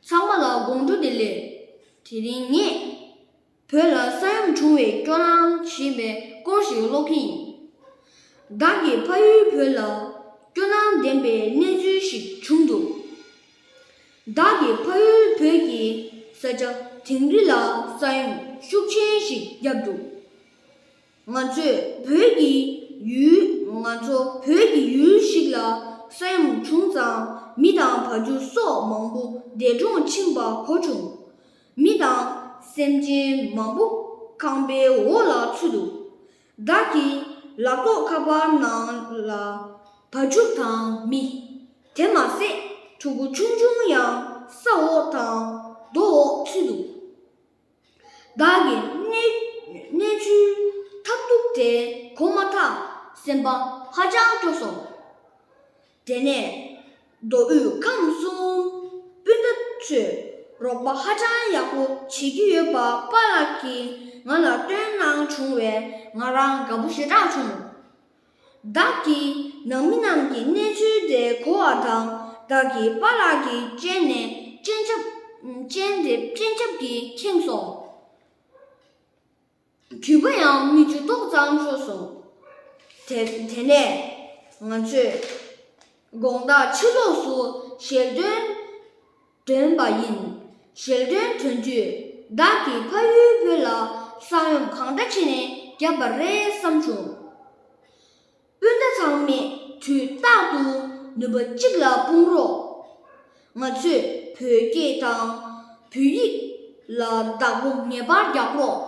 ཚང་མ་ལ་དགོངས་དྲོ་དེ་ལས། དེ་རིང་ངས། བོད་ལ་ས་ཡོམ་བྱུང་བའི་སྐྱོ་ལང་ཞེས་པའི་སྐོར་ཞིག་ཀློག་གི་ཡིན། བདག་གི་ཕ་ཡུལ་བོད་ལ་སྐྱོ་སྣང་ལྡན་པའི་གནས་ཚུལ་ཞིག་བྱུང་འདུག་བདག་གི་ཕ་ཡུལ་བོད་ཀྱི་ས་ཆ་དིང་རི་ལ་ས་ཡོམ་ཤུགས་ཆེན་ཞིག་བརྒྱབ་འདུག། ང་ཚོས་བོད་ཀྱི་ཡུལ། ང་ཚོ་བོད་ཀྱི་ཡུལ་ཞིག་ལ་ས་ཡོམ་བྱུང་ཙང་མི་དང་བ་རྒྱུ་སོགས་མང་པོ་འདས་གྲོངས་ཕྱིན་པ་གོ་བྱུང། མི་དང་སེམས་ཅན་མང་པོ་ཁང་པའི་འོག་ལ་ཚུད་འདུག་བདག་གི་ལག་ཐོགས་ཁ་པར་ནང་ལ་བ་རྒྱུ་དང་མི། དེ་མ་ཟད་ཕྲུ་གུ་ཆུང་ཆུང་ཡང་ས་འོག་དང་རྡོ་འོག་ཚུད་འདུག་བདག་གི་གནས་ཚུལ་ཐབས་སྡུག་དེ་གོ་མ་ཐག་སེམས་པ་ཧ་ཅང་སྐྱོ་སོང། དེ་ནས་མདོ་དབུས་ཁམས་གསུམ་སྤུན་ཟླ་ཚོས་རོགས་པ་ཧ་ཅང་ཡག་པོ་བྱེད་ཀྱི་ཡོད་པ་པཱ་ལགས་ཀྱིས་ང་ལ་བཏོན་གནང་བྱུང་བས་ང་རང་དགའ་པོ་ཞེ་དྲག་བྱུང། བདག་གིས་ནང་མི་རྣམས་ཀྱི་གནས་ཚུལ་དེ་གོ་བ་དང་བདག་གི་པ་ལགས་ཀྱི་སྤྱན་ནས་སྤྱན་ཆབ་སྤྱན་དེ་སྤྱན་ཆབ་ཀྱིས་ཁེངས་སོང། དུད་པ་ཡང་མི་འཇུ་ཏོག་ཙམ་ཤོར་སོང། དེ་དེ་ནས་ང་ཚོས་དགོངས་དག་ཕྱི་ལོགས་སུ་ཞལ་འདོན། བསྒྲོན་པ་ཡིན། ཞལ་བསྒྲོན་དོན་བརྒྱུད་བདག་གི་ཕ་ཡུལ་བོད་ལ་གསང་ཡོམ་གང་འདྲ་བྱས་ནས་བརྒྱབ་པ་རེད་བསམ་བྱུང། སྤུན་ཟླ་ཚང་མས་དུས་རྟག་ཏུ་ནུས་པ་གཅིག་ལ་སྤུངས་རོགས། ང་ཚོས་བོད་སྐད་དང་བོད་ཡིག་ལ་བདག་པོ་ངེས་པར་རྒྱག་རོགས།